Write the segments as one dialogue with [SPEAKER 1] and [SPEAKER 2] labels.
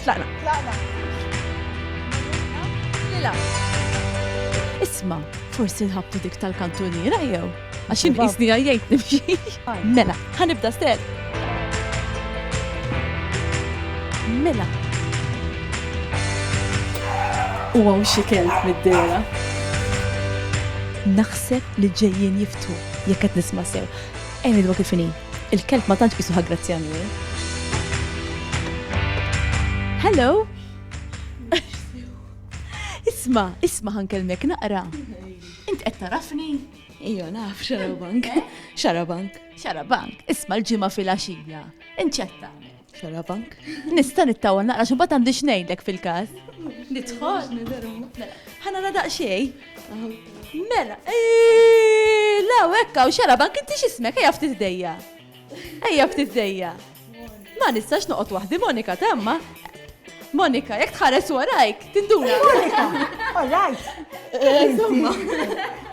[SPEAKER 1] Tlaqna. Tlaqna. Lila. Isma, forsi nħabtu dik tal-kantuniera jew? Għax inqisni għajjajt nimxi. Mela, ħanibda stess. Mela. U għaw xikel mid-dera. Naħseb li ġejjien jiftu, jekk qed nisma' sew. Ejn id kif inhi. Il-kelb ma tantx qisuh aggrazzjani hu. Hello! Isma, isma ħankellmek naqra. Int qed tarafni? Ejja naf xarabank. Xarabank. Xarabank, isma l-ġimgħa fil-għaxija. Inċetta. Xarabank. Nista nittawa naqra xumbat għandi xnejdlek fil-kas. Nitħol. Mela, ħana la daqxej. Mela, eh, la wekka u xarabank inti xismek ejja ftit dejja. Ejja ftit dejja. Ma nistax noqgħod waħdi Monika tamma. Monika, jekk tħares warajk, tinduna. Eh, Monika,
[SPEAKER 2] warajk. Eh, insomma.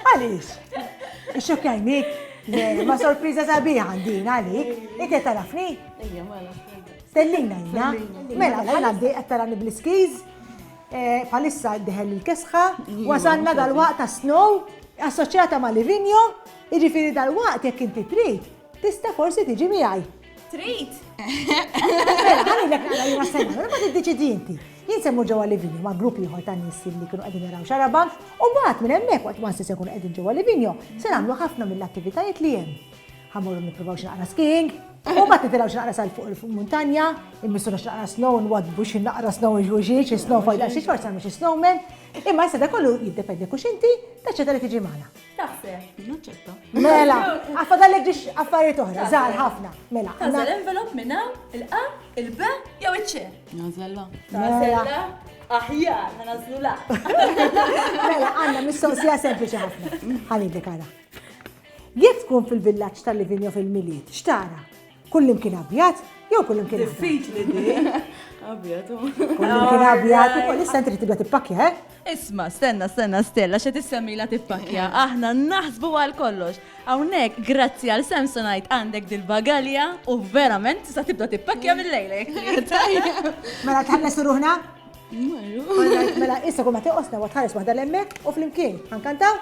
[SPEAKER 1] Għaliex?
[SPEAKER 2] Ixxok jajnik. Ma sorpriza sabiħa din għalik. Inti tarafni?
[SPEAKER 1] Ejja, mela. Tellina, ejja.
[SPEAKER 2] Mela, mela, għaddi għattarani bl-skiz. Eh, palissa diħel il-kesħa, mm-hmm. wasanna dal-waqt ta' snow, assoċjata ma' Livigno, iġifiri dal-waqt jek inti trid, tista' forsi tiġi miegħi. Trid? Mela, ħalli l-ek għala jina s-sena, mela, ma t-deċidi inti. Jien semmu ġewwa Livigno ma' grupp ieħor ta' nies li kienu qegħdin jaraw xaraba u mbagħad minn hemmhekk waqt ma se jkun qegħdin ġewwa Livigno se nagħmlu ħafna mill-attivitajiet li hemm. Ħamur nipprovaw x'naqra skiing, u ma titilgħu x'naqra sal fuq il-muntanja, immissuna x'naqra snow, nwadbu x'naqra snow iġuġi, xi snow fajda xi xorta mhux snowman, imma issa da kollu jiddependi kux inti taċċetta li tiġi magħna. Taħseb. Naċċetta.
[SPEAKER 1] Mela,
[SPEAKER 2] għafadallek ġiex affarijiet oħra, żgħar ħafna. Mela. Għażel envelop minn
[SPEAKER 1] hawn, il-qa, il-b, jew iċ-ċe. Nażella. Nażella. Aħjar, ma nażlu
[SPEAKER 2] la. Mela, għandna mistoqsija sempliċi ħafna. Ħalidlek għara. Jekk tkun fil-villaġġ ta' Livigno fil-Milied, x'tara? Kullimkien abjad jew kullimkien abjad? Diffiċli din. Abjad.
[SPEAKER 1] Kullimkien
[SPEAKER 2] abjad, u issa inti tibda tippakja, eh? Isma, stenna,
[SPEAKER 1] stenna, Stella, xe tissemmila tippakja. Aħna naħsbu għal kollox. Hawnhekk, grazzi għal Samsonite għandek dil-bagalja u verament tista' tibda tippakja mill-lejlek.
[SPEAKER 2] Mela tħalles ruħna? Mela issa kull ma tiqosna wa tħares waħda l-emmek u flimkien. Ħankantaw?